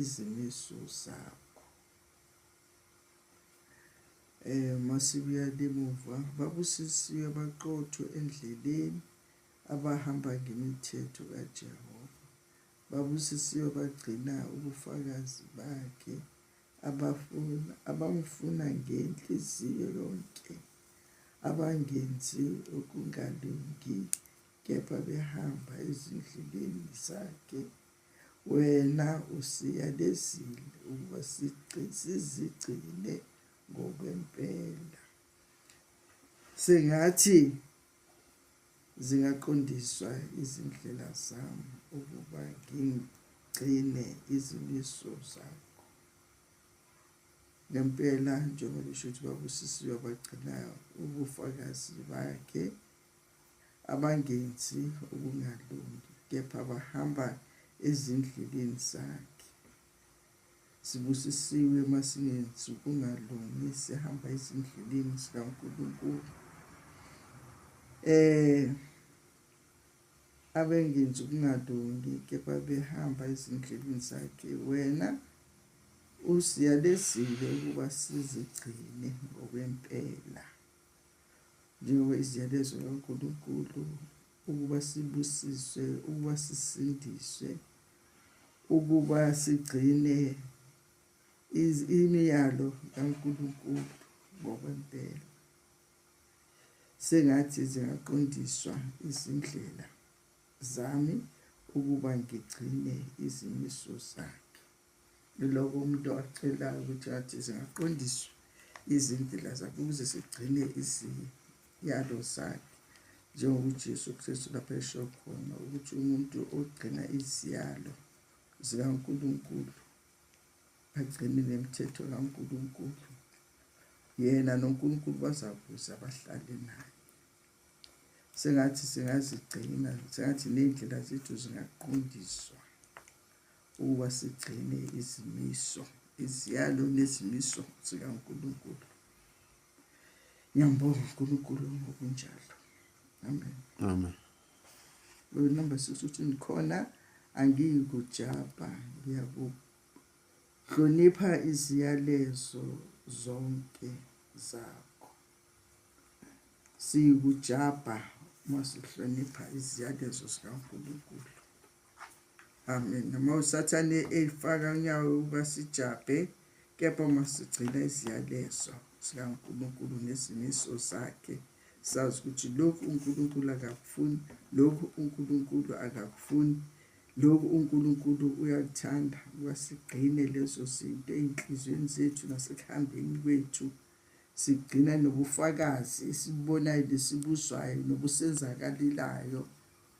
izimiso zakho eh masibuya lemuva babusisiwe baqotho endleleni abahamba ngemithetho kaJehova babusisiwe bagcina ubufakazi bakhe abafuna abamfuna ngenhliziyo yonke abangenzi okungalungi kepha behamba ezindleleni zakhe Wena usiyalezile ukuba sizigcine ngokwempela. Sengathi zingaqondiswa izindlela zami ukuba ngigcine izimiso zakho. Ngempela njengoba esho ukuthi babusisiwe abagcinayo ubufakazi bakhe abangenzi ukungalungi kepha bahamba ezindleleni zakhe sibusisiwe uma singenzi ukungalungi sihamba ezindleleni zikaNkulunkulu eh abengenzi ukungalungi kepha behamba ezindleleni zakhe wena usiyalezile ukuba sizigcine ngokwempela njengoba iziyalezo kaNkulunkulu ukuba sibusiswe ukuba sisindiswe ukuba sigcine imiyalo kaNkulunkulu ngokwempela sengathi zingaqondiswa izindlela zami ukuba ngigcine izimiso zakhe Yiloko umuntu acelayo ukuthi athi zingaqondiswa izindlela zakhe ukuze sigcine iziyalo zakhe njengokuJesu Kristu lapha esho khona ukuthi umuntu ogcina iziyalo zikaNkulunkulu agcine nemithetho kaNkulunkulu yena noNkulunkulu bazakuza bahlale naye sengathi singazigcina sengathi ney'ndlela zethu zingaqondiswa ukuba sigcine izimiso iziyalo nezimiso zikaNkulunkulu ngiyambonga uNkulunkulu ngokunjalo amen amen lo number 6 uthi ngikhona angiyi kujabha ngiyakuhlonipha iziyalezo zonke zakho siyikujabha uma sihlonipha iziyalezo zikaNkulunkulu amen noma usathane eyifaka unyawo ukuba sijabhe kepha uma sigcina iziyalezo sikankulunkulu nezimiso zakhe sazi ukuthi lokhu unkulunkulu akakufuni lokhu unkulunkulu akakufuni lokhu unkulunkulu uyakuthanda ukuba sigcine lezo zinto ey'nhliziyweni zethu nasekuhambeni kwethu sigcina nobufakazi esibubonayo nesibuzwayo nobusenzakalelayo